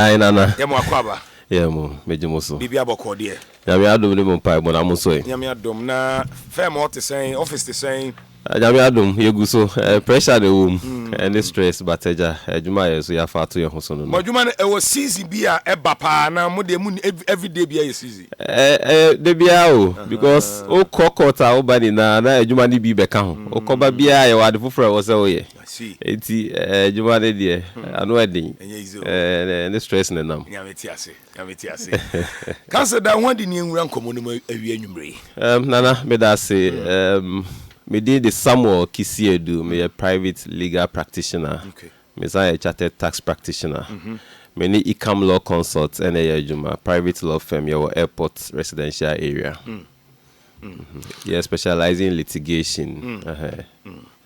Ae Nana. Yɛ mo akwaaba. Yɛ mo, megye mo so. Biribiara bɔkɔɔ deɛ. Nyame adom ne mo mpaebɔ na mo sɔe. Nyame adom. Na firm hɔ te sɛn? Office te sɛn? Nyame adom, yɛgu so. Pressure na ɛwɔ mu, ɛne stress, but agya, adwuma a yɛn nso yɛafa ato yɛn ho so no no. Mo adwuma no, ɛwɔ season bi a ɛba paa anaa mo deɛ monni, everyday biara yɛ season? Ɛyɛ da biara o, because wokɔ court a woba nyinaa na adwuma no bi bɛka ho. Wokɔba biara yɛwɔ ade foforɔ a ɛwɔ sɛ woyɛ. Enti adwuma no deɛ ano ɛden ne stress na ɛnam. Nana meda ase me din de Samuel Kisiedu me yɛ private legal practitioner me san yɛ chartered tax practitioner me ne Icam law consult ɛna ɛyɛ adwuma private law firm yɛwɔ airport residential area. Yɛ specialize in litigation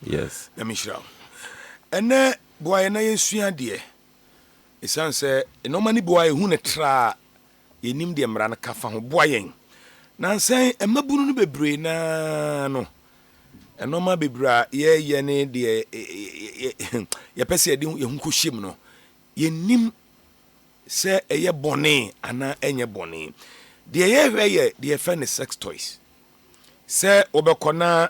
yes. Nyame nhyira wo. Ɛnɛ boa yɛn na yɛnsua adeɛ. Ɛsiane sɛ nnoɔma no bi wɔ hɔ a ɛhu no tra a, yɛnnim deɛ mmara no ka fa ho. Boa yɛn. Nansa yi, mmabunu no bebree no ara no, nnoɔma bebree a yɛyɛ ne deɛ yɛpɛ sɛ yɛde yɛn ho kɔhyɛm no, Yɛnnim sɛ ɛyɛ bɔne anaa ɛnyɛ bɔne. Deɛ yɛhwɛ yɛ deɛ yɛfrɛ no sex toys. Sɛ wobɛkɔ na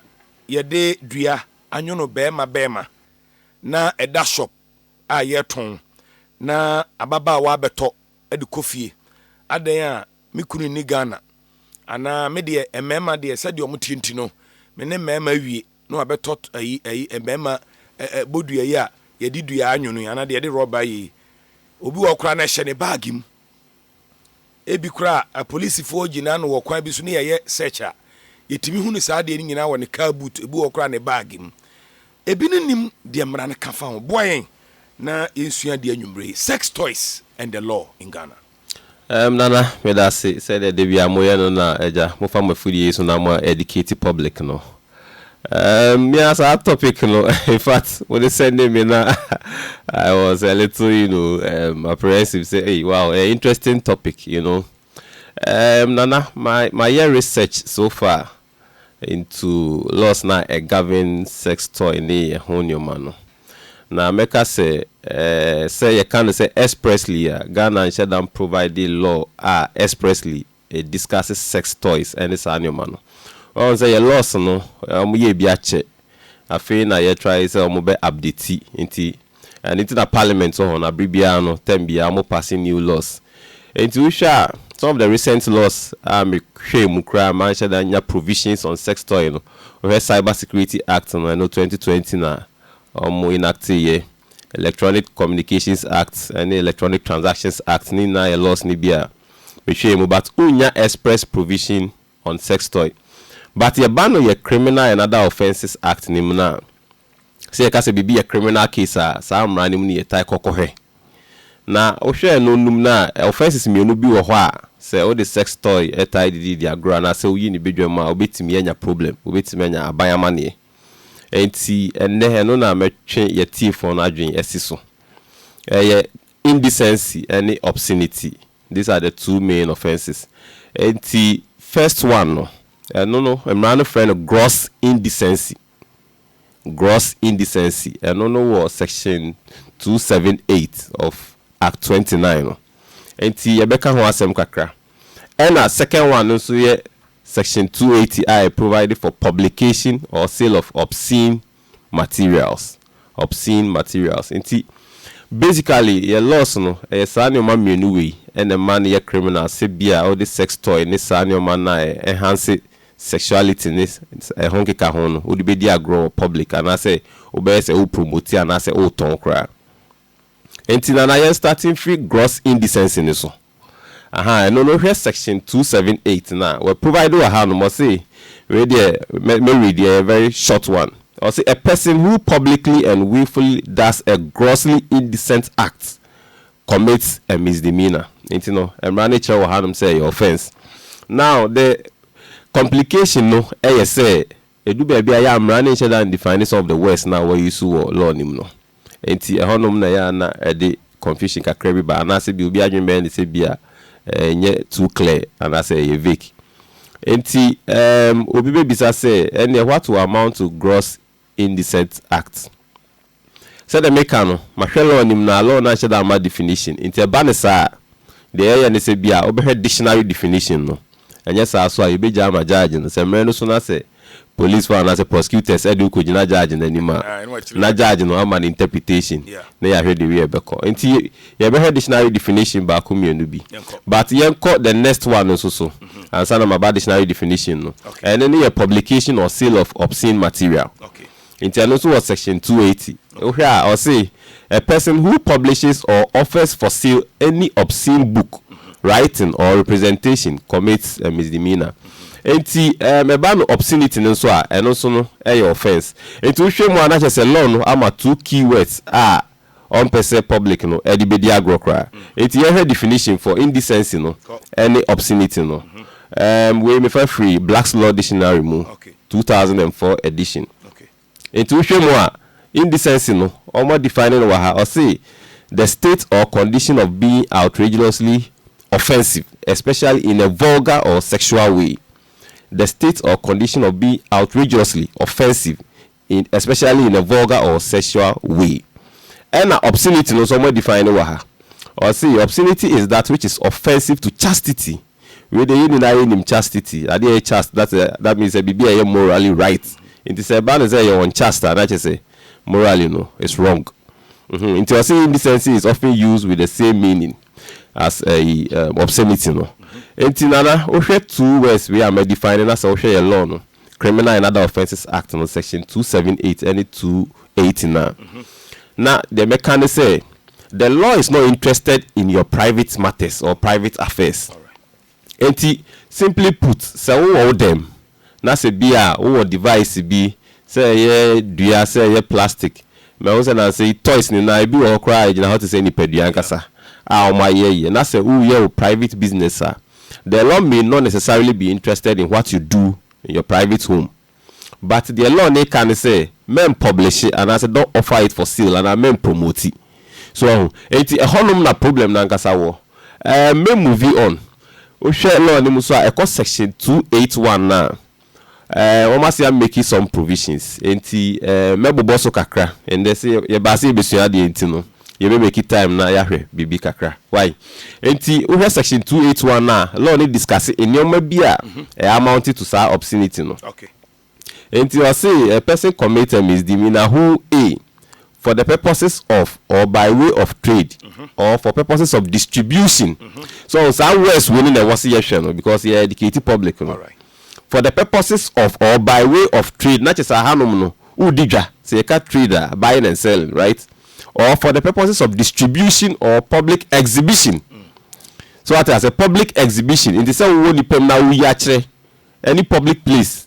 yɛde dua anwono bɛɛma bɛɛma na ɛda shop a yɛtɔn na ababaawa abɛtɔ de kɔ fie, adɛn a me kunu nni Ghana? Anaa me deɛ mmarima deɛ sɛdeɛ wɔteɛ nti no me ne mmarima awie. na wabɛtɔ ayi ayi mmarima ɛ ɛ bodua yi a yɛde dua anwono yi anaa deɛ yɛde rɔba yɛ yi obi wɔ koraa na ɛhyɛ ne baage mu ebi koraa apolisifoɔ gyina no wɔ kwan bi so ne yɛyɛ search a yɛtumi hu ne saa deɛ no nyinaa wɔ ne car boot ebi wɔ koraa ne baage mu ebi no nim deɛ mmara no ka fa ho boa yɛn na yɛnsua deɛ anwummere sex toys and the law in Ghana. Erm Nana medase sɛdeɛ dabiaa moyɛ no na agya mofa mo afidie yi so na mo educate public no erm me a saa topic no infact mode sɛndee me na I was a little you know erm apprehensive sɛ ei wow ɛyɛ interesting topic you know erm Nana ma mayɛ research so far into laws no a ɛ govern sex toy ne ɛho nneɛma no. Na mɛka sɛ sɛ yɛka no sɛ expressly a, Ghana nhyɛ da mprovide law a expressly ɛ discuss sex toys ne saa nneɛma no. Wahu sɛ yɛ laws no wɔyɛɛ bi akyɛ, afei na yɛtry sɛ wɔbɛ update nti Ɛno nti na parliament wɔ hɔ no, bere biara no, term biara wɔn passe new laws. Enti wohwɛ a, some of the recent laws a me hwɛɛ mu koraa a manhyɛ da nya provisions on sex toy no, wohwɛ cyber security act no, ɛno twenty twenty na wɔn enactee yɛ. Electronic communications act ne electronic transactions act ne nyinaa yɛ laws no bi a me hwɛɛ mu but wonnya express provision on sex toy. But yɛba no yɛ criminal and other offences act no mu no a, Sɛ yɛka sɛ biribi yɛ criminal case a, saa mmara no mu no yɛtaa kɔ kɔhwɛ. Na wohwɛ no num no a, offences mmienu bi wɔ hɔ a, sɛ wode sex toy taa dididi agorɔ anaasɛ woyi no badwam a, wobɛtumi anya problem, wobɛtumi anya aban amanneɛ. Enti ɛnnɛ, ɛno na mɛtwe yɛatiefoɔ no adwene asi so. Ɛyɛ indecency ne obscenity. These are the two main offences. Enti first one no, ɛno no, mmara no frɛ no gross indecency. Gross indecency, ɛno no wɔ section two seven eight of act twenty nine no nti yɛbɛka ho asɛm kakra. Ɛna second one no nso yɛ section two eighty a ɛ provide for publication or sale of obscene materials. obscene materials nti basically yɛ laws no ɛyɛ saa nnoɔma mmienu wei na ɛma no yɛ criminal sɛ bi a wode sex toy ne saa nnoɔma no a ɛ enhance sexuality ne ɛho nkeka ho no wode bɛdi agorɔ wɔ public anaasɛ wobɛyɛ sɛ wo promote anaa sɛ wotɔn koraa. Nti na na yɛn starting firi gross indecency no so. Ahaa, ɛno no hwɛ section two seven eight no a wɔ provide wɔ ha nom, ɔse, wei deɛ mɛ, mɛ read, ɛyɛ very short one, ɔse, A person who publicly and wilfully does a grossly indecent act commits a misdemeanour. Nti no, mmara no kyerɛ wɔ ha nom sɛ ɛyɛ offence. Now, the complication no yɛ sɛ, Edu baabi a ɛyɛ a mmara no nhyɛ da ndefine some of the words no a wɔayusu wɔ law no mu no. Enti ɛhɔnom na ɛyɛ a na ɛde confusion kakra bi ba anaasɛ bi obi adwene bɛyɛ no sɛ bi a ɛnyɛ too clear anaasɛ ɛyɛ vague. Enti ɛɛm obi bɛbisa sɛ ɛnneɛ what will amount to gross indecent act? Sɛdeɛ meka no, mahwɛ law no mu na law no anhyɛ da amma definition. Nti ɛba no saa a, deɛ yɛyɛ ne sɛ bia wobɛhwɛ dictionary definition no. Ɛnyɛ saa so a, yɛbɛgya ama judge no. Sɛ mmerɛ no so na sɛ police foɔ anaasɛ prosecutors de wo kɔgyina judge no anim a, na judge no ama no interpretation na yɛahwɛ deɛ wei ɛbɛkɔ. Nti yɛbɛhwɛ dictionary definition baako mmienu bi. But yɛnkɔ the next one nso so ansa na maba dictionary definition no. Ɛno ne yɛ publication or sale of obscene material. Nti ɛno nso wɔ section two eighty. Wohwɛ a ɔse a person who publishes or offers for sale any obscene book, writing or representation commits a misdemeanour. Nti ɛɛm ɛba no obscenity no nso a ɛno nso no ɛyɛ offence. Nti wohwɛ mu a na kyerɛ sɛ law no ama two key words a ɔmpɛ sɛ public no de bɛdi agorɔ koraa. Nti yɛnhwɛ definition for indecency no ne obscenity no. Ɛɛm wei mefa firi Black's Law Dictionary mu, two thousand and four edition. Nti wohwɛ mu a, indecency no, wɔn define no wɔ ha, ɔse, The state or condition of being outrageously offensive, especially in a vulgar or sexual way. The state or condition of being outrageously offensive in especially in a vulgar or sexual way. Ɛna obscenity no nso ɔmo adefine no wɔ ha. Ɔse obscenity is that which is offensive to chastity. Wei deɛ yɛn nyinaa yɛnim chastity, adeɛ a ɛyɛ chaste, that's a, that means sɛ biribi a ɛyɛ morally right. Nti sɛ ɛba no sɛ ɛyɛ unchaste a, na kyerɛ sɛ morally no it's wrong. Mmhmm, nti ɔse indecency is often used with the same meaning as ɛyi um, obscenity no. Nti Nana, wohwɛ two words wei a ma define no na sɛ wohwɛ yɛn law no, Criminal and Other Offences Act no Section 278 ne 280 no a, na deɛ mɛka ne sɛ, the law is not interested in your private matters or private affairs. Enti, simply put, sɛ wowɔ wo dam na sɛ bi a wowɔ device bi, sɛ ɛyɛ dua, sɛ ɛyɛ plastic, mahu sɛ nnansa yi toys no nyinaa, ebi wɔ hɔ koraa a ɛgyina hɔ te sɛ nipadua ankasa a wɔayɛ yɛ, na sɛ woreyɛ wo private business a, The law may not necessarily be interested in what you do in your private home but deɛ law no reka ne sɛ mɛnpɔblehye anaasɛ don't offer it for sale anaa mɛnpromoti. So wahu? Enti ɛhɔnom na problem no ankasa wɔ. Ɛɛm mɛmuvi on. Wohwɛ law no mu nso a ɛkɔ section two eight one no a, Eh, wɔn ase a make some provisions, enti eh, mɛbobɔ so kakra. Ɛndɛ sɛ yɛba ase yɛbɛsua adeɛ nti no, yɛbɛ make time na yɛahwɛ biribi kakra. Wai? Enti wohwɛ section 281 a, law no discusse nneɛma bi a ɛ amount to saa obscenity no. Enti ɔse, a person commit a misdemeanor who, a for the purposes of or by way of trade or for purposes of distribution so saa words wei no na ɛwɔ se yɛhwɛ no because yɛ educate public no for the purposes of or by way of trade na kyɛ sɛ ahanom no wodi dwa sɛ yɛka trade a buying and selling right or for the purposes of distribution or public exhibition so wate ase public exhibition nti sɛ wowɔ nnipa mu na woyi akyerɛ ɛne public place.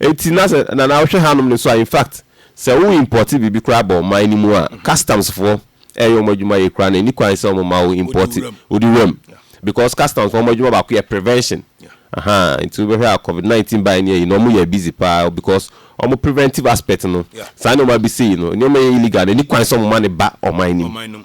Enti na sɛ na na wohwɛ hanom no nso a, in fact, sɛ wo importe biribi koraa ba ɔman no mu a, customs foɔ ɛyɛ wɔn adwuma yie koraa na ɛni kwan sɛ wɔn ma wo importe, wodi wuram. Because customs foɔ wɔn adwuma baako yɛ prevention. Ahaa, nti wobɛhwɛ a covid 19 baeɛ ne ayi no, wɔn yɛɛ busy paa because wɔn preventive aspect no, saa nneɛma bi sei no, nneɛma yɛ illegal no ɛni kwan sɛ wɔn ma no ba ɔman no mu.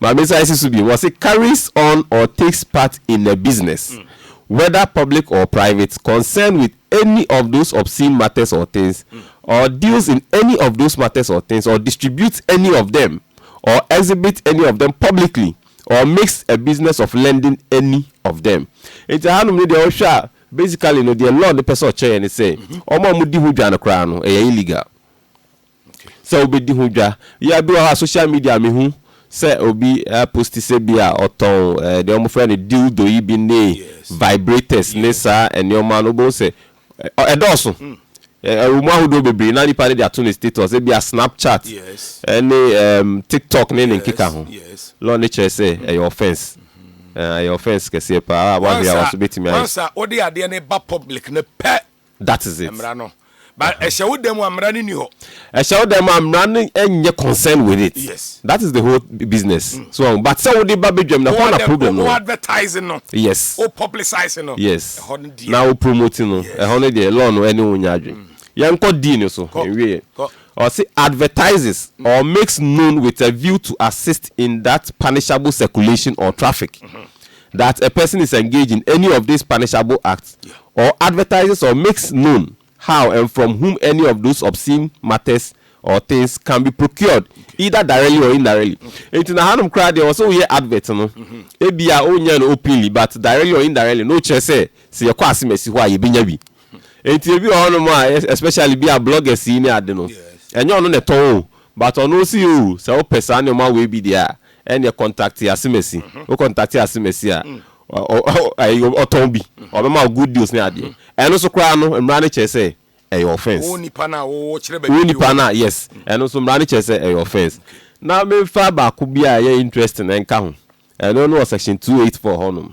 Maame nsa esi so bio, wɔse carries on or takes part in a business, whether public or private, concerned with any of those obscene matters or things, or deals in any of those matters or things, or distributes any of them, or exhibits any of them publicly, or makes a business of lending any of them. Nti ahanom no deɛ wohwɛ a basically no deɛ law no pɛ sɛ ɔkyerɛ yɛn ne sɛ wɔn a wɔdi ho dwa no koraa no ɛyɛ illegal. sɛ wobɛdi ho dwa. Bia bi wɔ hɔ a social media mehu sɛ obi a posti sɛ bia ɔtɔn deɛ wɔfrɛ no dildo yi bi ne vibrators ne saa nnoɔma no wobɛhu sɛ ɛdɔɔso. Ɛwɔ mu ahodoɔ bebree na nipa no de ato ne status sɛ bia snapchat ne tiktok ne ne nkeka ho. Law no kyerɛ sɛ ɛyɛ offence. Ɛyɛ offence kɛseɛ paa a wahwɛ a wobɛtumi ayɛ. Once a wode adeɛ no ba public no pɛ that is it. Mmara no. But uh-huh. ɛhyɛ wo dan mu a mmara no ni hɔ. ɛhyɛ wo dan mu a mmara no nyɛ concern with it. yes. that is the whole business. Mm. so um, but sɛ wo de ba bedwam na hɔ na problem no. o advertising no. yes. o publicizing no. yes. ɛhɔ no deɛ. na o promoting no. yes. ɛhɔ no deɛ law no ɛne wo nya adwene. Mm. yɛn kɔ deal no so. kɔ nwie. kɔ or say advertises mm. or makes known with a view to assist in that punishable circulation or traffic. Mm-hmm. that a person is engaged in any of these punishable acts or advertises or makes known how and from whom any of those obscene matters or things can be procured either directly or indirectly. Enti na hanom koraa deɛ wɔsɛ woyɛ advert no, ebia wonyɛɛ no openly but directly or indirectly no wokyerɛ sɛ sɛ yɛkɔ asemasi hɔ a yɛbɛnya bi. Enti ebi wɔ hɔnom a especially bi a bloggers yi ne ade no ɛnyɛ ɔno na ɛtɔn o but ɔno ɔse oo sɛ wopɛ saa nnoɔma wei bi deɛ a Ɛnneɛ kɔntakte asemasi. Wo kɔntakte asemasi a, ɔtɔn bi, ɔbɛma wo good deals ne adeɛ. Ɛno nso koraa no, mmara no kyerɛ sɛ ɛyɛ offence. Wo nipa no a wokyerɛ baabi bi wɔ. Wo nipa no a, yes. Ɛno nso mmara no kyerɛ sɛ ɛyɛ offence. Na memfa baako bi a ɛyɛ interesting nka ho. Ɛno no wɔ section two eight four hɔnom.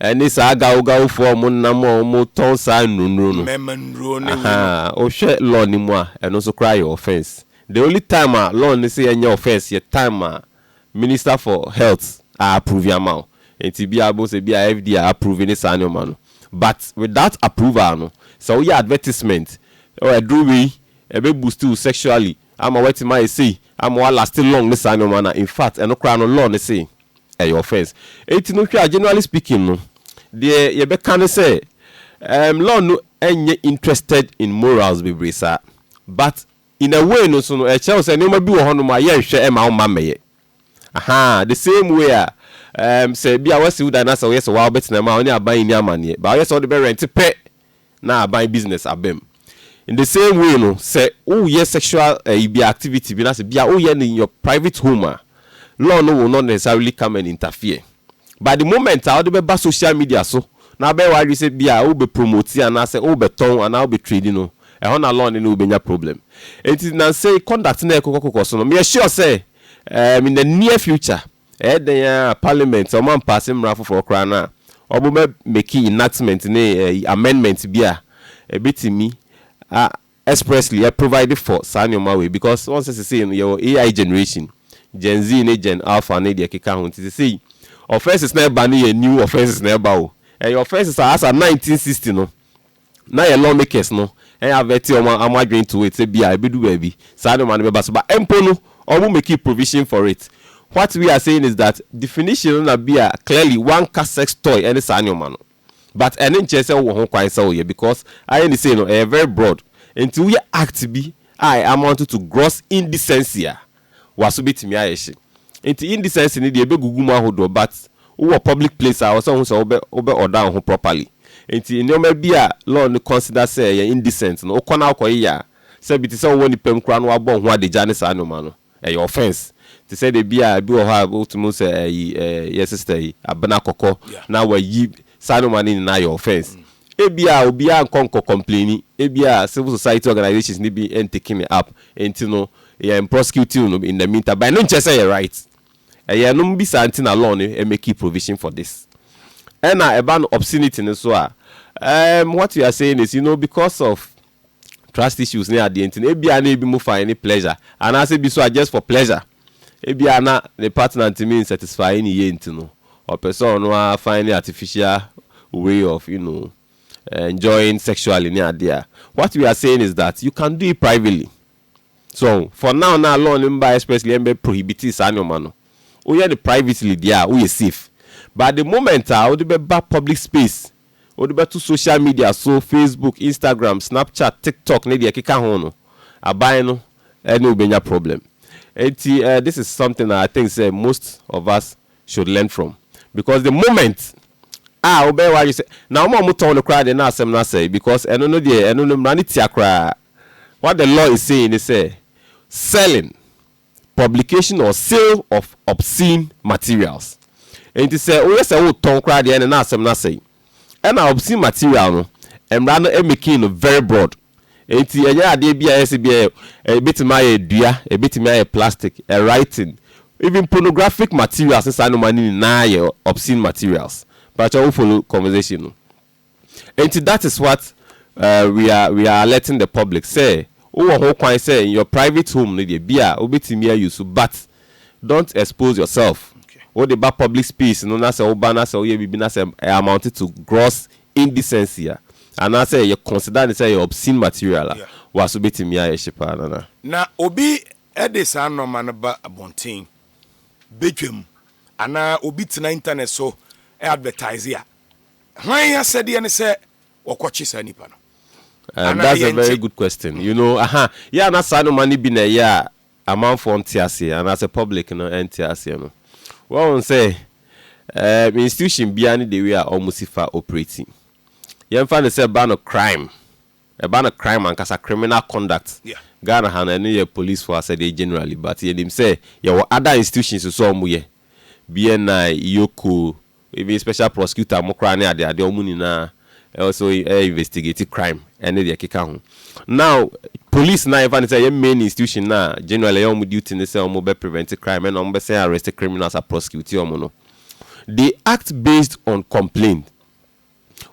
Ɛne saa gawgawfoɔ a wɔnam a wɔtɔn saa nnurunuro no. Mɛma nnuro no awu no. Ahaa, wohwɛ law no mu a, ɛno nso koraa yɛ offence. The only time a law no se ɛnyɛ offence yɛ time a Minister for Health a approve ama wo. Enti ebia wobɛhu sɛ ebia FDA a approve ne saa nneɛma no. But without approval no, sɛ woyɛ advertisement, oh, aduro wei, ɛbɛ boost wo sexually, Ama watumi ayɛ sei, ama wa laste long ne saa nnoɔma no a, infact ɛno koraa no law no se ɛyɛ offence. Enti no hwɛ a generally speaking no, deɛ yɛbɛka ne sɛ ehm law no nyɛ interested in morals bebree saa. But in a way no nso no ɛkyerɛ wo sɛ nnoɔma bi wɔ hɔ nom a yɛnhwɛ mma wo mma mmɛyɛ. Ahaa, the same way a ehm sɛ bi a wasi wo dan na sɛ woyɛ sɛ woaa wobɛtena mu a wo ne aban nni amanneɛ, but woyɛ sɛ wode bɛ rent pɛ na aban business aba mu. In the same way no, sɛ woyɛ sexual ɛyi bi activity bi na sɛ bia woyɛ no in your private home a, law no will not necessarily come and interfere. But the moment a wode bɛba social media so na wabɛyɛ w'adwene sɛ bia wobɛ promote anaasɛ wobɛtɔn anaa wobɛ trade no, ɛhɔ na law no ne wo bɛnya problem. Enti nnansa yi conduct no a ɛkokɔ kokɔ so no, meyɛ sure sɛ ɛɛm in the near future Ɛyɛ dɛn ara a, Parliament, sɛ wɔampaase mmara foforɔ koraa no a, wɔbɛ make enactment ne amendment bi a ɛbɛtumi a expressly a provide for saa nneɛma wei because wɔn sɛ sesei no yɛwɔ AI generation, Gen Z ne Gen Alpha ne deɛ ɛkeka ho nti sesei offences no a ɛba no yɛ new offences na ɛba o. Ɛyɛ offences a as at 1960 no, na yɛ lawmakers no avert wɔn wɔn adwene to it sɛ bia ɛbɛdu baabi saa nnoɔma no bɛba so ba mpo no wɔn make provision for it what we are saying is that definition no na bia clearly wanka sex toy ne saa nnoɔma no but ɛno nkyerɛ sɛ wowɔ ho kwan sɛ woyɛ because ayɛ ne sei no ɛyɛ very broad nti woyɛ act bi a amounted to gross indecency a waso betumi ayɛ hye nti indecency no deɛ ɛbɛgugu mu ahodoɔ but wowɔ public place a ɔsɛ wohu sɛ wobɛ wobɛ order wo ho properly nti nnoɔma bi a law no consider sɛ ɛyɛ indecent no wokɔ na wokɔyeyɛ a sɛ bi te sɛ wowɔ nnipa mu koraa na wabɔ wo ho adagya ne saa nnoɔma no ɛyɛ offence te sɛ deɛ bi a bi wɔ hɔ a wotumi hu sɛ ayi ɛɛ yɛ sister yi Abena Kɔkɔ na wayi saa nnoɔma no nyinaa yɛ offence. Ebia obiara nkɔ nkɔ kɔmplenni, ebia civil society organisations no bi n taking it up, nti no yɛn prosecuting no in the mean time, but ɛno nkyerɛ sɛ ɛyɛ right. Ɛyɛ ɛnom bi saa nti na law no makee provision for this. Ɛna ɛba no obscenity no so a, ehm, what you are saying is, you know, because of trust issues ne adeɛ nti no, ebia na ebi mo find ne pleasure, anaasɛ bi so a just for pleasure. Ebia na ne partner ntumi nsatisfy ne yie nti no, ɔpɛ sɛ ɔno ara find ne artificial way of you know enjoying sexually ne adeɛ a, what we are saying is that you can do it privately. So ɔho, for now no a law no mbaeɛ expressly ɛmbɛ prohibitee saa nnoɔma no, woyɛ no privately deɛ a, woyɛ safe. But the moment a wode bɛba public space, Wode bɛto social media so, Facebook, Instagram, Snapchat, TikTok ne deɛ ɛkeka ho no, aban no ne wo bɛnya problem. Enti this is something a I think sɛ most of us should learn from because the moment a wobɛyɛ w'adwene sɛ, na wɔn a wɔtɔn no koraa deɛ na asɛm no asɛe because ɛno no deɛ ɛno no mmara no tia koraa. What the law is saying ne sɛ, selling publication or sale of obscene materials. Enti sɛ woyɛ sɛ wotɔn koraa deɛ ɛne na asɛm no asɛe. Ɛna obscene material no, mmara no making no very broad. Enti ɛnyɛ adeɛ bi a ɛyɛ sɛ bi a ɛbɛtumi ayɛ dua, ɛbɛtumi ayɛ plastic, writing, even pornographic materials ne saa nnoɔma no nyinaa yɛ obscene materials. Mpakyɛw wo follow conversation no? Enti that is what uh, we are we are alerting the public sɛ wowɔ ho kwan sɛ in your private home no deɛ bi a wobɛtumi ayi so but don't expose yourself. Wode ba public space no na sɛ woba na sɛ woyɛ biribi na sɛ ɛ amount to gross indecency a anaasɛ yɛ consider ne sɛ yɛ obscene material a wa so bɛtumi ayɛ hye paa nana. Na obi de saa nnoɔma no ba abɔnten, badwam anaa obi tena internet so advertise a Hwan asɛdeɛ ne sɛ wɔkɔkye saa nipa no? Um, that's a very good question. Mm. You know, aha, yɛ ana saa noma no bi na ɛyɛ a amanfoɔ nte aseɛ anaasɛ public no ɛnte aseɛ no. Wɔn sɛ, um, institution biara ne the way a wɔn si fa operating. Yɛmfa no sɛ ba no crime ɛba no crime ankasa criminal conduct Ghana ha no ɛno yɛ police foɔ asɛdeɛ generally but yɛnim sɛ yɛwɔ other institutions nso a wɔyɛ BNI, Ioko, even special prosecutor mo koraa ne adeadeɛ wɔn nyinaa also ɛyɛ investigate crime ɛne deɛ ɛkeka ho now police no a yɛmfa no sɛ ɛyɛ main institution no a generally ɛyɛ wɔn duty ne sɛ wɔn bɛ prevent crime ɛna wɔn bɛsɛn arrest criminals a prosecute wɔn no they act based on complaint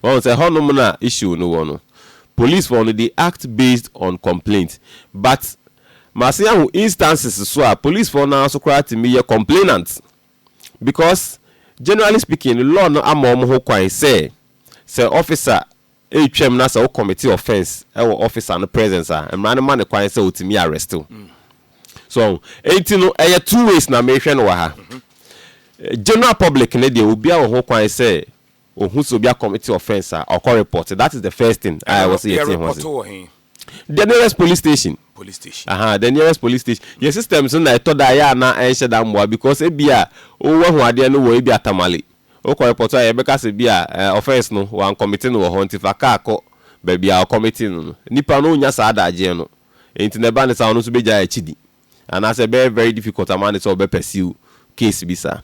Wahu sɛ ɛhɔnom na issue no wɔ no. Police foɔ no they act based on complaint but masen ahu instances so a police foɔ no ara nso koraa tumi yɛ complainant because generally speaking no law no ama wɔn ho kwan sɛ sɛ officer retwam na sɛ wo commit offence wɔ officer no presence a mmara no ma no kwan sɛ ɔtumi arrest wo. So wahu? Enti no ɛyɛ two ways na mehwɛ no wɔ ha. General public no deɛ obiara wɔ ho kwan sɛ Ohu sɛ obi akɔ te offence a, ɔkɔ report. That is the first thing a ɛwɔ sɛ yɛteɛ ho ase. The nearest police station. Police station. Aha, the nearest police station. Yɛ systems no na ɛtɔ da a yɛ a na ɛnhyɛ da mmoa because ebi a woahu adeɛ no wɔ ebi a Tamale. Wokɔ report a yɛbɛka sɛ bi a offence no wɔankɔmete no wɔ hɔ nti fa kaa kɔ baabi a wɔkɔmetee no no. Nipa no nnya saa adagyeɛ no. Enti na ɛba no saa ɔno nso bɛgyae akyidi. anaasɛ ɛbɛyɛ very difficult ama no sɛ ɔbɛ pursue case bi saa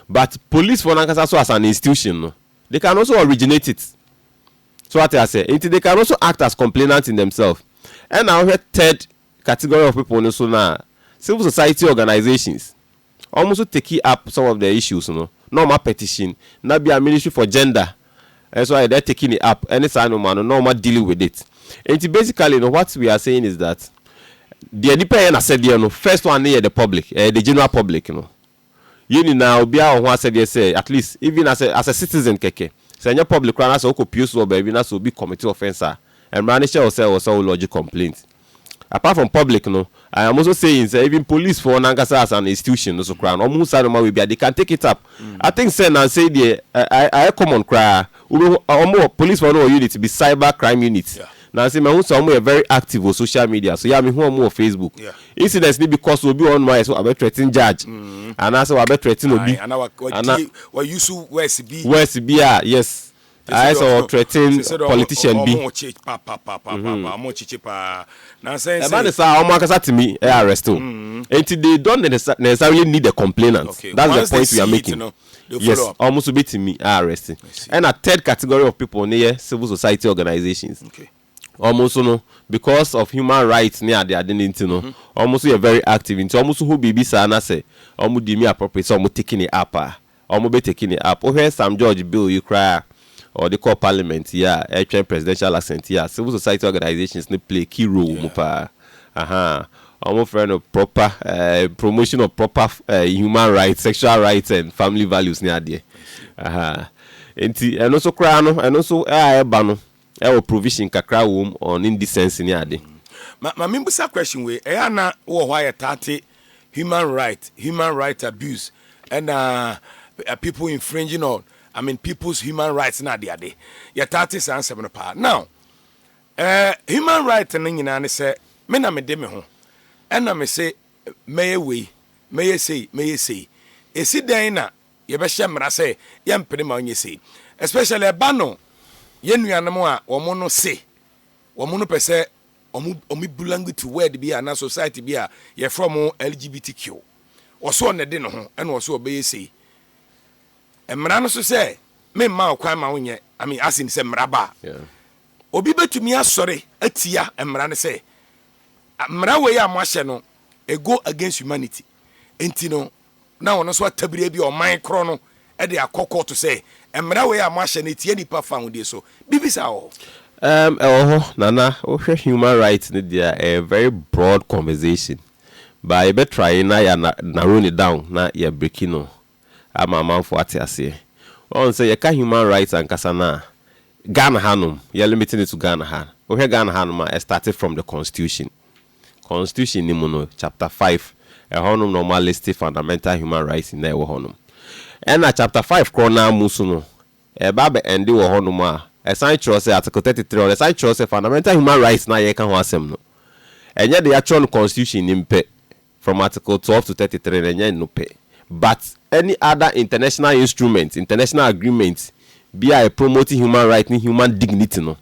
but police foɔ no ankasa so as an institution no they can also originate it so wate aseɛ nti they can also act as complainant in themselves ɛna wohwɛ third category of people no so no a civil society organisations wɔn nso take up some of the issues no na wɔn apetition na bia ministry for gender Ɛnso ayɛ dɛ taking a app ne saa nnoɔma no na wɔn a dealing with it. Nti basically no what we are saying is that deɛ nipa yɛ n'asɛdeɛ no first one no yɛ the public, ɛyɛ the general public no. Yɛn nyinaa obiara wɔ ho asɛdeɛ sɛ at least even as a as a citizen kɛkɛ sɛ ɛnyɛ public koraa na sɛ wokɔ pue so wɔ baabi na sɛ obi commit offence a, mmara no hyɛ wo sɛ ɛwɔ sɛ wo lodge complaint. Apart from public no, I am also saying sɛ even police foɔ no ankasa as an institution no so koraa no, wɔhu saa nnoɔma wei bi a, they can take it up. I think sɛ nnansa yi deɛ ɛ, ayɛ common koraa. Wobɛhu wɔn wɔ, police foɔ no wɔ unit bi, cyber crime unit. Nnansa yi mahu sɛ wɔn yɛ very active wɔ social media so. Yeah, mehu wɔn wɔ Facebook. Incidents no bi kɔ so, obi wɔ hɔnom a ayɛ sɛ wabɛ threaten judge, anaasɛ wabɛ threaten obi. Ae, anaa wa, wa, Ana- wa use words bi. Words bi a, yes. ayɛ sɛ ɔ threaten politician bi. Ɛba no saa a, wɔn ankasa tumi arrest o. Nti they don't necessarily need the complainant, that's the point we are making. Yes, wɔn nso bɛtumi arrest. Ɛna third category of people no yɛ civil society organisations. Wɔn nso no, because of human rights ne ade ade no nti no, wɔn nso yɛ very active. Nti wɔn nso ho biribi saa na sɛ wɔn deem it appropriate sɛ wɔn take no up a, Ɔmo bɛ take ne up. Wohwɛ Sam George bill yi koraa a ɔde kɔɔ parliament yi a ɛtwɛn presidential assent yi a civil society organisations no play key role wɔ mu paa. Ahaa. Ɔmo frɛ no proper eh, promotion of proper eh, human rights, sexual rights and family values ne adeɛ. Ahaa. Nti ɛno nso koraa no, ɛno nso a ɛba no, Ɛwɔ provision kakra wom on indecency ne ade. Ma ma mimbusa question wei, ɛyɛ a na wowɔ hɔ a yɛtaa te human right, human right abuse ɛna people infringing on I mean people's human rights ne ade ade. Yɛtaa te saa nsɛm no paa. Now, eh, human right no nyinaa ne sɛ me na mede me ho ɛna mese mɛyɛ wei, mɛyɛ sei, mɛyɛ sei. Ɛsi dɛn na yɛbɛhyɛ mmara sɛ yɛmpene ma ɔnyɛ sei especially ɛba no yɛn nuanom a wɔn no se wɔn no pɛ sɛ wɔn wɔn belong to word bi a na society bi a yɛfrɛ wɔn LGBTQ wɔso ɔna de ne ho ɛna wɔso ɔbɛyɛ sei mmara no so sɛ memma ɔkwan ma wonyɛ I mean asin sɛ mmara ba obi bɛtumi asɔre atia mmara no sɛ mmara wei a mo ahyɛ no it go against humanity. Enti no, na ɔno nso atabiri bi a ɔman korɔ no de akɔ kɔɔto sɛ, Mmara wei a moahyɛ no etia nnipa fahodie so. Biribi saa wɔ hɔ? Ɛɛm, ɛwɔ hɔ. Nana, wohwɛ human rights no deɛ a, ɛyɛ very broad conversation. But yɛbɛ try na yɛ narrow no down na yɛ break no ama amanfoɔ ate aseɛ. Woahu sɛ yɛka human rights ankasa no a, Ghana hanom, yɛ limit no to Ghana ha. Wohwɛ Ghana hanom a, ɛ start from the constitution. Constitution no mu no chapter five ɛhɔ nom na wɔn a list fundamental human rights nyinaa ɛwɔ hɔ nom. Ɛna chapter five korɔ no ara mu nso no ɛba abɛ ende wɔ hɔ nom a ɛsan kyerɛ sɛ article thirty three hɔ no ɛsan kyerɛ sɛ fundamental human rights no a yɛreka ho asɛm no ɛnyɛ deɛ yɛatwerɛ no constitution no mu pɛ from article twelve to thirty three no ɛnyɛ ɛno pɛ but any other international instrument, international agreement, bi a ɛ promote human rights ne human dignity no.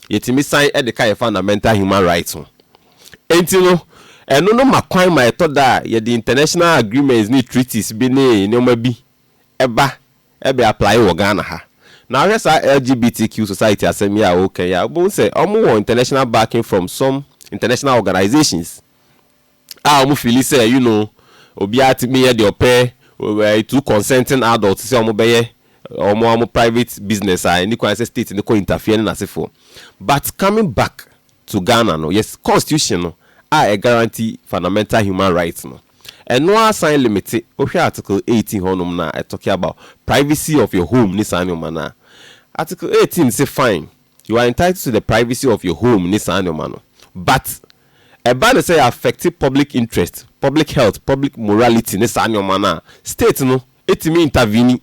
yɛtumi san de ka yɛn fundamental human rights ho. Enti no, ɛno no ma kwan ma ɛtɔ da a yɛde international agreements ne treaties bi ne nneɛma bi ba bɛ apply wɔ Ghana ha. Na wohwɛ saa LGBTQ society asɛm yi a woka yi a, wobɛhu sɛ wɔwɔ international backing from some international organisations. a wɔn fili sɛ you know obiara tumi yɛ deɛ ɔpɛ eh, through consenting adults sɛ wɔn bɛyɛ wɔn wɔn private business a ɛni kwan sɛ state no kɔ interfere ne n'asefoɔ but coming back to Ghana no yɛ constitution no a ɛ guarantee fundamental human rights no ɛno ara san limite wohwɛ article eighteen hɔnom no a ɛ talking about privacy of your home ne saa nneɛma no a article eighteen se fine you are entitled to the privacy of your home ne saa nnoɔma no but ɛba no sɛ yɛ affect public interest, public health, public morality ne saa nnoɔma no a state no tumi intervene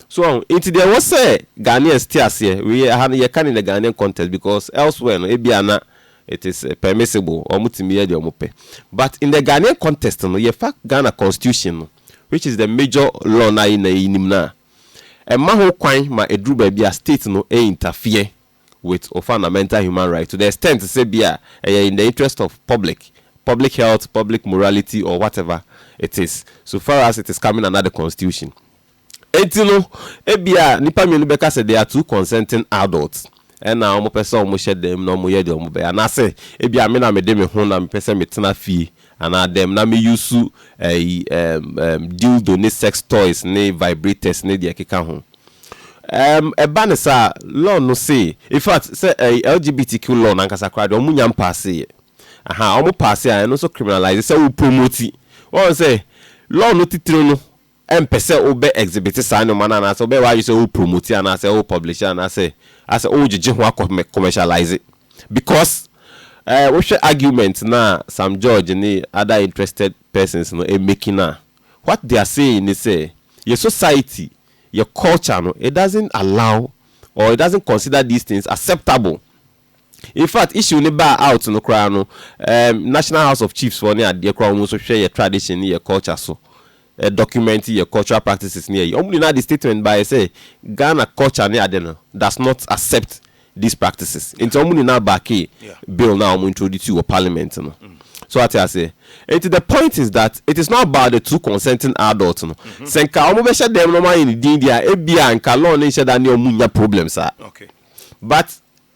so wahu nti deɛ ɛwɔ sɛ Ghanaians te aseɛ wei yɛ aha no yɛka no in the Ghanaian context because elsewhere no ebia na it is permissible wɔn tumi yɛ deɛ wɔn pɛ but in the Ghanaian context no yɛfa Ghana constitution no which is the major law no a yɛn nyinaa yɛnim no a Ɛma ho kwan ma ɛduru baabi a state no interfere with wo fundamental human right to the extent sɛ bi a ɛyɛ in the interest of public, public health, public morality or whatever it is so far as it is coming under the constitution. Enti no ɛbi a nnipa mmienu bɛka sɛ they are two consenting adults ɛna wɔpɛ sɛ wɔhyɛ dan mu na wɔyɛ deɛ wɔbɛyɛ anaasɛ ɛbi a me na mede me ho na mepɛ sɛ metena fie Anaa dɛm na me use ɛyi ɛɛm ɛɛm dildo ne sex toys ne vibrators ne deɛ ɛkeka ho. Ɛɛm ɛba no saa law no se infact sɛ ɛyi LGBTQ law no ankasa koraa deɛ ɔmo nya mpaaseeɛ. Ahaa ɔmo paase a ɛno nso criminalise sɛ wo promote. Wahu sɛ law no titire no ɛmpɛ sɛ wo bɛ exhibit saa nnoɔma no anaasɛ wobɛyɛ w'adwene sɛ wo promote anaasɛ wo publish anaasɛ asɛ wo gyegye ho akɔ commercialise because eh wo hwɛ argument no a Sam George ne other interested persons no ɛmake no a what they are saying ne sɛ yɛ society yɛ culture no it doesn't allow or it doesn't consider these things acceptable. In fact issue no baa out no koraa no ehm National House of Chiefs foɔ ne adeɛ koraa wɔn nso hwɛ yɛ tradition ne yɛ culture so ɛ document yɛ cultural practices ne ayi wɔn nyinaa de statement baeɛ sɛ Ghana culture ne ade no does not accept these practices nti wɔn nyinaa backee bill no a wɔn introduce wɔ parliament no So wate aseɛ nti the point is that it is not about the two consenting adults no sɛ nka wɔn bɛhyɛ dɛm na wɔn ayɛ no din deɛ a ebia nka law no nhyɛ da ne wɔn nnya problem saa. but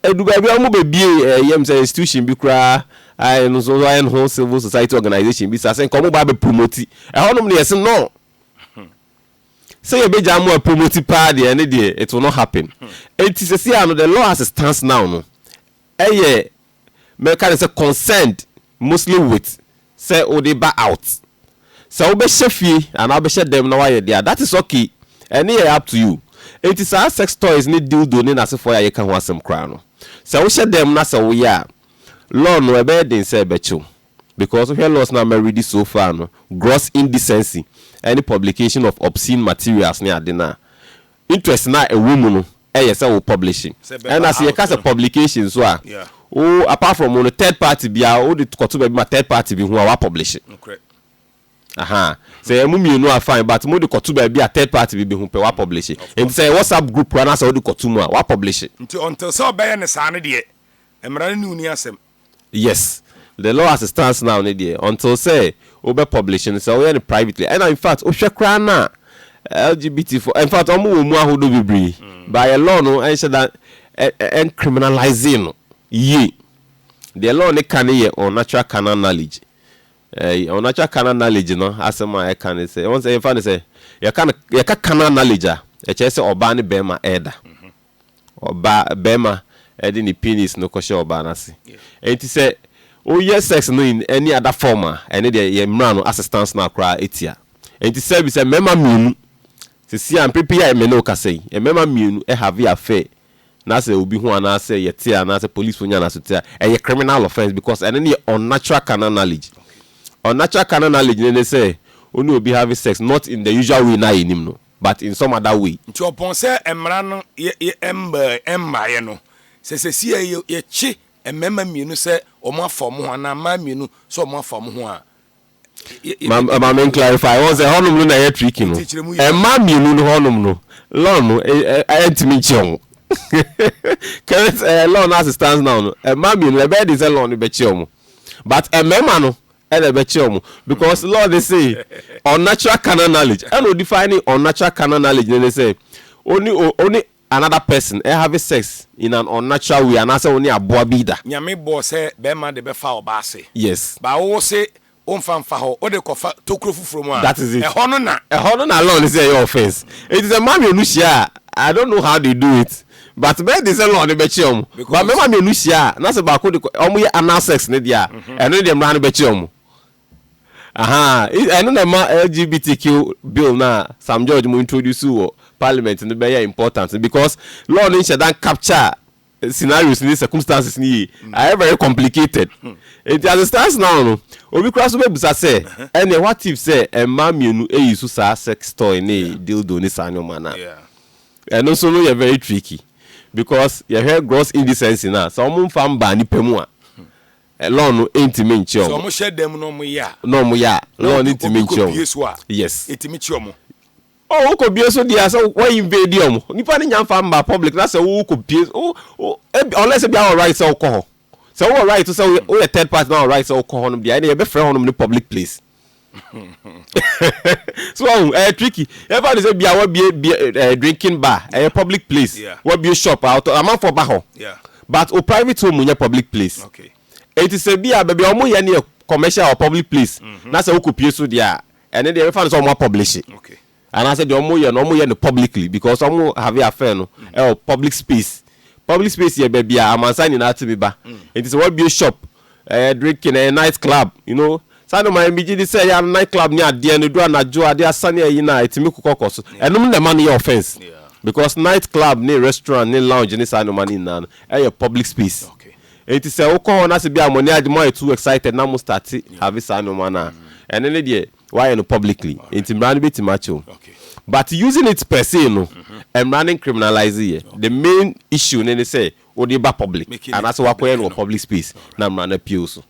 ɛdu baabi a wɔn bɛ bie ɛɛ yɛm sɛ institution bi koraa a ɛno nso ayɛ no ho civil society organization bi sase nka wɔn ba abɛ promoti ɛhɔnom no yɛsi no sɛ yɛ bɛ gya mo a promoti paa deɛ ɛne deɛ it will not happen eti sɛsi ano the law as it stands now no ɛyɛ mɛka no sɛ concerned mostly with sɛ wode ba out. Sɛ wobɛhyɛ fie anaa wobɛhyɛ dɛm na woayɛ deɛ a, that is okay. Ɛno yɛ up to you. Enti saa sex toys ne dildo ne n'asefoɔ yi a yɛka ho asɛm koraa no, sɛ wohyɛ dɛm na sɛ woyɛ a, law no ɛbɛyɛ den sɛ ɛbɛkye wo. Because wohwɛ laws no a mareadi so far no, gross indecency ne publication of obscene materials ne ade no a, Interest no a ɛwɔ mu no yɛ sɛ wo publishing. Ɛna sɛ yɛka sɛ publication nso a, wo apart from wo no third party bi a wode kɔto baabi ma third party bi hu a wa publish. Ahaa. Sɛ ɛyɛ mo mmienu a fine but mode kɔto baabi a third party bi bɛhu pɛ wa publish. Nti sɛ ɛyɛ WhatsApp group koraa na sɛ wode kɔto mu a wa publish. Nti until sɛ ɔbɛyɛ no saa no deɛ mmara no ne wo nni asɛm. Yes the law as it stands now no deɛ until sɛ wo bɛ publish no sɛ wo yɛ no privately ɛna infact wo hwɛ koraa no a LGBT foɔ infact ɔmo wɔ mu ahodoɔ bebree but yɛ law no ɛnhyɛ da ɛn criminalising no yie deɛ law no ka no yɛ unnatural carnal knowledge ɛɛ unnatural carnal knowledge no asɛm a ɛka no sɛ wɔn sɛ yɛnfa no sɛ yɛka no yɛka carnal knowledge a ɛkyerɛ sɛ ɔbaa ne bɛrima ɛɛda Ɔbaa, barima de ne penis no kɔhyɛ ɔbaa no ase. Enti sɛ woyɛ sex no in any other form a, ɛno deɛ yɛn mmara no assistance no ara koraa ɛtia. Enti sɛ bi sɛ mmarima mmienu, seesei a mprɛ pii a me ne wo kasa yi, mmarima mmienu have affair na sɛ obi hu anaasɛ yɛte anaasɛ policefoɔ nya no asote a, ɛyɛ criminal offence because ɛno no yɛ unnatural carnal knowledge. Unnatural carnal knowledge no ne sɛ wo ne obi have sex not in the usual way no a yɛnim no. but in some other way. Nti ɔpɔn sɛ mmara no mmaeɛ no, sɛ sɛsii yi yɛkye mmarima mmienu sɛ wɔn afa wɔn ho anaa mmaa mmienu sɛ wɔn afa wɔn ho a. Ma me clarify wɔn sɛ hɔnom no na ɛyɛ tricky no mmaa mmienu no hɔnom no law no ɛntumi nkye wɔn current law no as it stands now no mmaa mmienu ɛbɛyɛ de sɛ law no bɛkye wɔn but mmarima no Ɛna ɛbɛkyerɛ wɔn because Lord se unnatural carnal knowledge ɛna odefine unnatural carnal knowledge no ne sɛ one one another person ɛhave sex in an unnatural way anaasɛ one aboa bi da. Nyame bɔɔ sɛ bɛɛma de bɛfa ɔbaa ase Yes. but wo wo se wo nfa nfa hɔ wo de kɔfa tokuro foforɔ mu a That is it. ɛhɔ no na. Ɛhɔ no na Lord se ɛyɛ offence. Enti sɛ mmaa mmienu hyia a I don't know how they do it. But bɛyɛ den sɛ law no bɛkyerɛ wɔn. But Because- mmarima mmienu hyia a na sɛ baako de kɔ wɔn yɛ anal sex no deɛ a, ɛno no deɛ mmara no bɛkyerɛ wɔn. Ahaa, i- ɛno na ɛma LGBTQ bill no a Sam George mo introduce wɔ parliament no bɛyɛ important no because law no nhyɛ da capture scenarios ne circumstances no yie. Ayɛ very complicated. Nti as it stands now no, obi koraa so bɛbusa sɛ ɛneɛ what if sɛ mmaa mmienu ɛyi so saa sex toy ne dildo ne saa nneɛma no a? Yeah. Ɛno nso no yɛ very tricky because yɛhwɛ gross indecency no a, sɛ wɔn nfa mmaa nipa mu a, law no ntumi nkye wɔn. Sɛ wɔn hyɛ dan mu na wɔn yɛ a. Na wɔn yɛ a, law no ntumi nkye wɔn. Na obi kɔ bie so a, yes, etumi kye wɔn. Oh, wokɔ bie so deɛ sɛ wɔn invade wɔn, nipa no nya nfa mmaa public na sɛ wokɔ bie, unless ebi awɔ right sɛ wokɔ hɔ. Sɛ wowɔ right to sɛ woyɛ woyɛ third party na wɔ right sɛ wokɔ hɔnom deɛ ɛna yɛbɛfrɛ hɔnom ne public place. so ɔhu oh, ɛyɛ eh, tricky yɛfa ne sɛ bia wabie bia eh, eh, drinking bar ɛyɛ eh, public place yeah. wabie shop a ɔtɔ amanfoɔ ba hɔ yeah. but o private home nyɛ public place okay. ɛti sɛ bia baabi a wɔn yɛ ne yɛ commercial or public place mm -hmm. na sɛ wokɔ pie so deɛ a ɛne deɛ yɛbɛfa ne sɛ wɔn apublish okay. Anaasɛ deɛ ɔmo yɛ no ɔmo yɛ no publicly because ɔmo have affair no ɛwɔ public space. Public space yɛ baabi a amansan nyinaa tumi ba. Nti sɛ w'abue shop, ɛyɛ drinking, ɛyɛ night club, you know, saa nnoɔma yi megye di sɛ ɛyɛ a night club ne adeɛ no ɛduru anadwo a adeɛ asa ne ayi no a ɛtumi kokɔ kɔ so. Ɛnom na ɛma no yɛ offence because night club ne restaurant ne lounge ne saa nnoɔma no nyinaa no ɛyɛ public space. Nti sɛ wokɔ hɔ na sɛ bi a mo ani agye, moayɛ too excited na mo starte have saa nnoɔma no a ɛno ne deɛ Wayɛ no publicly nti mmara no bɛtumi akyɛ wo but using it per se no mmara no ncriminalise yɛ. The main issue no ne sɛ wode ba public anaasɛ wakɔyɛ no wɔ public space na mmara no apue wo so.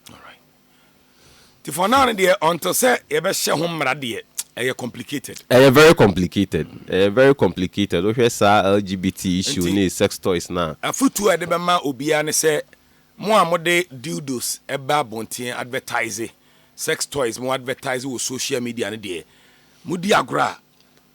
Nti for now no deɛ until sɛ yɛbɛhyɛ ho mmara deɛ ɛyɛ complicated. Ɛyɛ very complicated, ɛyɛ very complicated. Wohwɛ saa LGBT issue ne sex toys no a. Afotuo a yɛde bɛma obiara ne sɛ Mo a mode dildos ba abɔnten advertise sex toys mo advertise wɔ social media no deɛ modi agorɔ a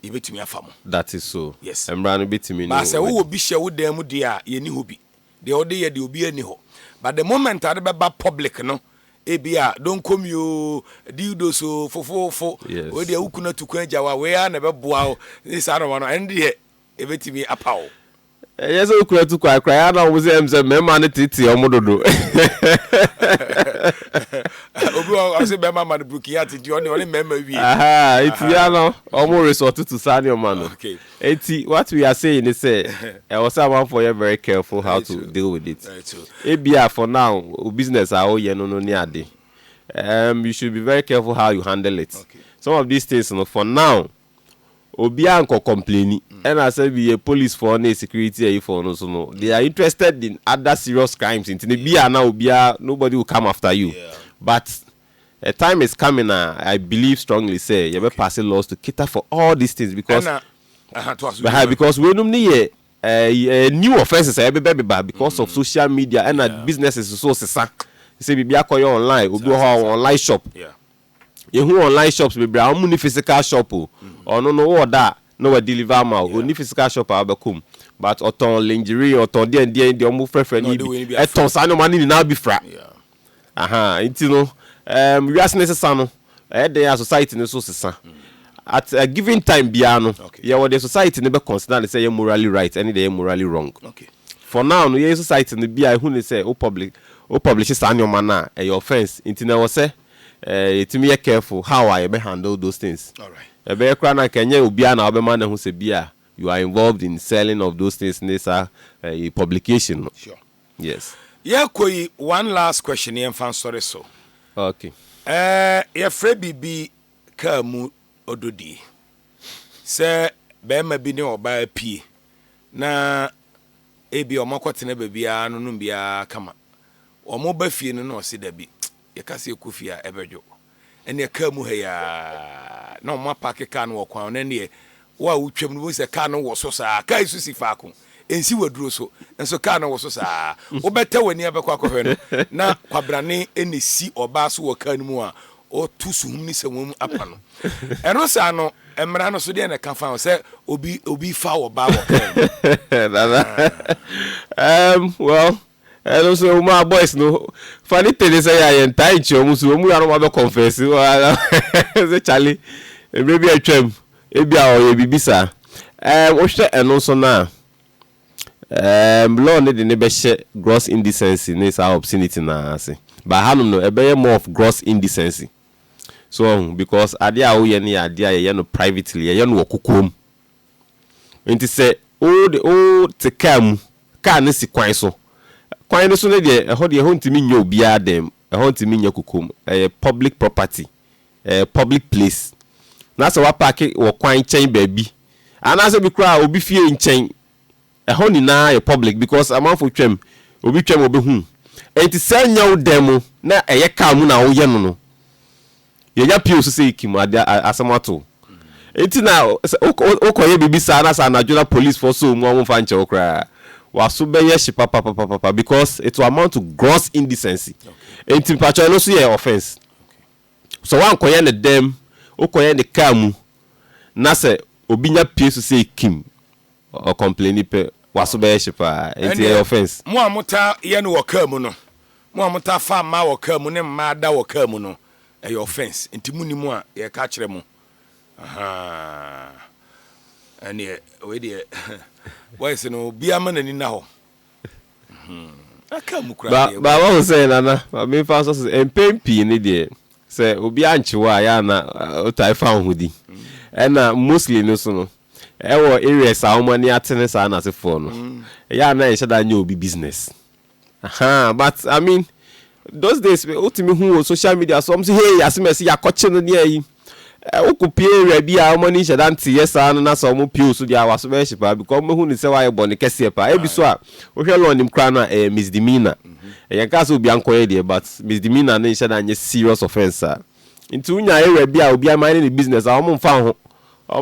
yɛbɛtumi afa mo. That is so. Yes. Mmara no bɛtumi ne But sɛ wowɔ wadi. bi hyɛ wo dan mu deɛ a yɛnni hɔ bi. Deɛ wode yɛ deɛ obiara nni hɔ. But the moment a wode bɛba public no ebi a donkomi o, dildos o, fofoofo, wei Yes. deɛ wo kunu atu kwan agya wo a wei ara na ɛbɛboa wo ne saa nnoɔma no ɛno deɛ ebetumi apaw wo. Ɛnyɛ sɛ wokura tu kwae koraa, ɛyɛ a na wɔn sɛ ɛm sɛ mmarima no tete wɔn dodo. Obi wɔ hɔ ɔsɛ bɛrima ma no burukin ate nti ɔne ɔne mmarima wie. Eti ya no wɔn resort to saa nneɛma no. Eti what we are saying ne sɛ ɛwɔ sɛ amanfoɔ yɛ very careful how to deal with it. Ebia for now o business a woyɛ no no ne ade um you should be very careful how you handle it. Some of these things no for now. Obiaa nkɔ kɔmpleni ɛna asɛm bi yɛ police fɔɔ ne security ayi fɔɔ no so no they are interested in other serious crimes nti no bia na obiaa nobody will come after you but a time is coming a I believe strongly sɛ yɛbɛ passe laws to cater for all these things because ɛha because weinom no yɛ ɛɛ new offences a yɛbebɛbeba because of social media ɛna businesses nso sesa sɛ biribi akɔyɛ online obi wɔ hɔ a ɔwɔ online shop. Yɛhu online shops bebree a wɔn ni physical shop o. Ɔno no wɔ da a na wa deliver ama o. Ɔni physical shop a wabɛkɔ mu. But ɔtɔn lingerie, ɔtɔn deɛ deɛ deɛ wɔn frɛfrɛ no yi bi. Ɛtɔn saa nneɛma no nyinaa bi fra. Aha, nti no, um, wiase ne sesa no, ɛyɛ dɛn a society no so sesa. Mm. At a given time biara no, okay. yɛwɔ deɛ society no bɛ consider ne sɛ yɛ morally right ɛne deɛ yɛ morally wrong. Okay. For now no, yɛn society no bi a ehu ne sɛ o public o publish saa nneɛma no a ɛyɛ offence nti na ɛwɔ sɛ eh, yɛtumi yɛ careful how a yɛbɛ handle those things. Ɛbɛyɛ koraa no anka ɛnyɛ obiara na wobɛma no ahu sɛ bi a you are involved in selling of those things ne saa eh, publication no. Yes. Yɛkɔ yi, one last question yɛmfa nsɔre so. Okay. Eh, yɛfrɛ biribi kaa mu ɔdodie. Sɛ bɛrima bi ne ɔbaa pie na ebi wɔakɔtena baabi ara no nom biara kama. Wɔba fie no na ɔse dabi. Yɛka sɛ yɛkɔ fie a, ɛbɛdwo. Ɛnneɛ kaa mu ha yi ara na wɔapaake kaa no wɔ kwan ho, na ɛnneɛ wo a wotwam no wobɛhu sɛ kaa no wɔ so saa ara. Kaa yi nso si faako, ɛnsi waduro so, nso kaa no wɔ so saa ara. Wobɛtɛ w'ani abɛkɔ akɔhwɛ no, na kwabrane na ɛsi ɔbaa so wɔ kaa no mu a ɔreto suhum ne sɛnwam apa no. Ɛno saa no, mmara no so deɛn na ɛka fa ho sɛ obi, obi fa ɔbaa wɔ kaa mu? Nana, um, well, Ɛno nso wo maa boys no funny thing ne sɛ yɛ a yɛntaa nkyerɛ wɔn so wɔn mu yɛanom abɛ confess sɛ Charlie mmerɛ bi atwam ebi a ɔyɛ biribi saa ɛɛm wohwɛ ɛno nso no a ɛɛm law no de ne bɛhyɛ gross indecency ne saa obscenity no ase but hanom no ɛbɛyɛ more of gross indecency so ɔho because adeɛ a woyɛ no yɛ adeɛ a yɛyɛ no privately yɛyɛ no wɔ kokoam. Nti sɛ wode wote kaa mu, kaa no si kwan so, kwan no so no deɛ ɛhɔ deɛ ɛhɔ ntumi nyɛ obiara dɛm, ɛhɔ ntumi nyɛ kokom, ɛyɛ public property, ɛyɛ public place. Na sɛ woapaake wɔ kwan nkyɛn baabi, anaasɛ bi koraa obi fie nkyɛn, ɛhɔ nyinaa yɛ public because amanfoɔ twam, obi twam ɔbɛhu. Nti sɛ nyɛ wo dan mu na ɛyɛ kaa mu na woyɛ no no, yɛnya pio so sɛ yɛkim ade a asɛm ato wo. Nti na sɛ wokɔyɛ biribi saa na sɛ anadwo na polisfoɔ sɔ wo mu a wɔmfa nkyɛ wo koraa. W'aso bɛyɛ hye papapapapa because it will amount to gross indecency. Nti mpakyɛw ɛno nso yɛ offence. Sɛ woankɔyɛ no dan mu, wokɔyɛ no car mu na sɛ obi nya pie so sɛ yɛkim Ɔ complaini pɛ, w'aso bɛyɛ hye paa. Enti ɛyɛ Ɛnneɛ, offence. mo a motaa yɛ no wɔ kaa mu no, mo a motaa fa mmaa wɔ kaa mu ne mmaa da wɔ kaa mu no, ɛyɛ offence. Enti monim a, yɛreka akyerɛ mo. Ahaa. Ɛnneɛ, wei deɛ, boys no, obiara mma n'ani nna hɔ. Ba wahu sɛ nana ma memfa nsɔ so mpɛn pii no deɛ sɛ obi ankye wo a yɛ ana wotae fa wo ho di ɛna mostly no so no ɛwɔ areas a wɔn ani atene saa n'asefoɔ no yɛ ana ɛnhyɛ da nyɛ obi business aha but I mean those days wotumi hu wɔ social media so wɔn so hey asem ɛsi yakɔkye no ne ayi Wokopue wura bi a wɔn ani nhyɛ da nteyɛ saa no na sɛ wɔpue wo so deɛ a, w'aso bɛyɛ hye paa because wɔbɛhu no sɛ woayɛ bɔne kɛseɛ paa. Ebi so a, wohwɛ law nim koraa no a, ɛyɛ misdemeanor. Ɛyɛ nkaa sɛ obiara nkɔyɛ deɛ but misdemeanor no nhyɛ da nyɛ serious offence saa. Nti wonya wura bi a obiara mine ne business a, wɔn mfa wo ho.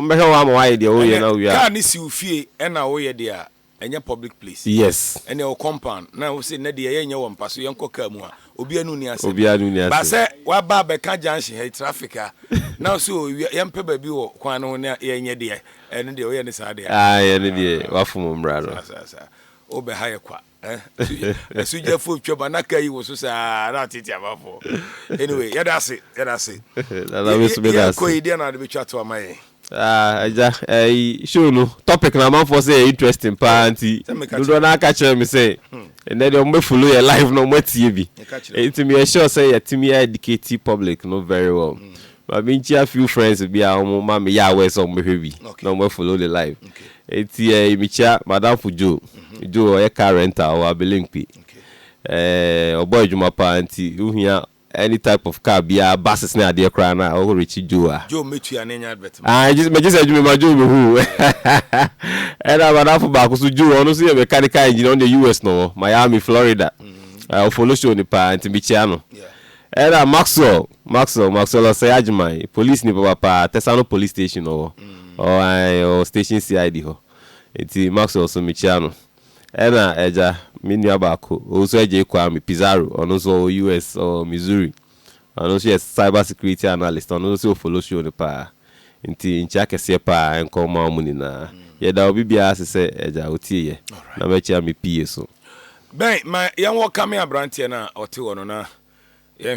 Wɔbɛhwɛ wo ara ma woayɛ deɛ woreyɛ na wowie a. Ɛnɛ car no si wo fie ɛna woyɛ deɛ a, ɛnyɛ public place yes ɛneɛ wo compound na wose nnɛ deɛ yɛnyɛ wɔ mpa so yɛnkɔ car mu a obia no nni asɛm obia no nni asɛm but sɛ waba abɛka junction ha yi traffic a na wose o ewia yɛmpɛ baabi wɔ kwan no ho na yɛnyɛ deɛ ɛno deɛ woyɛ ne saa deɛ a aah ɛno deɛ wafom mmra no. saa saa saa wobɛ ha yɛ kwa eh asugyafoɔ twa ba na car yi woso saa na atete amanfoɔ anyway yɛda ase yɛda ase Nana me nso meda ase. yɛkɔ yi deɛ na wode bɛtwa to ama yɛn. Ah agya ɛyi show no topic na amanfoɔ sɛ yɛ interesting paa nti dodoɔ naa ka kyerɛ me sɛ ɛnɛ deɛ ɔmobɛ follow yɛ live na ɔmo atie bi nti meyɛ sure sɛ yɛtumi a educate public no very well ma menkyia few friends bi a ɔmo ma meyɛ aware sɛ ɔmo bɛhwɛ bi na ɔmo follow the live nti ɛyi mekyia madamfo Joe Joe ɔyɛ car rental wɔ Abelemkpi ɛɛ ɔbɔ adwuma paa nti wohia Any type of car biaa buses ne adeɛ koraa na wo Richie Joe a. Joe mɛtua ne nyɛ advert ma. Ae gye megye sɛ adwuma ma Joe mehu wo Ɛna madamfo baako nso Joe ɔno nso yɛ mechanical engineer ɔno deɛ US na ɔwɔ Miami Florida Ae wo follow show no paa nti mekyia no Ɛna Maxwell Maxwell Maxwell ɔsɛe Agyeman yi police ni papapa Tesano police station na ɔwɔ ɔwɔ ae ɔwɔ station CID hɔ nti Maxwell nso mekyia no. Ɛna agya, me nua baako, ɔwusu Adjei Kwame Pizarro, ɔno nso ɔwɔ US, ɔwɔ Missouri. Ɔno nso yɛ cyber security analyst, ɔno nso sɛ ɔfollow show no paa. Nti nkyia kɛseɛ paa ɛnkɔ mma wɔn nyinaa. Yɛda obi biara ase sɛ agya ɔtie yɛ. Na mɛkyia me PA so. Ben, ma yɛnwɔkame aberanteɛ no a ɔte hɔ no na yɛnhwɛ.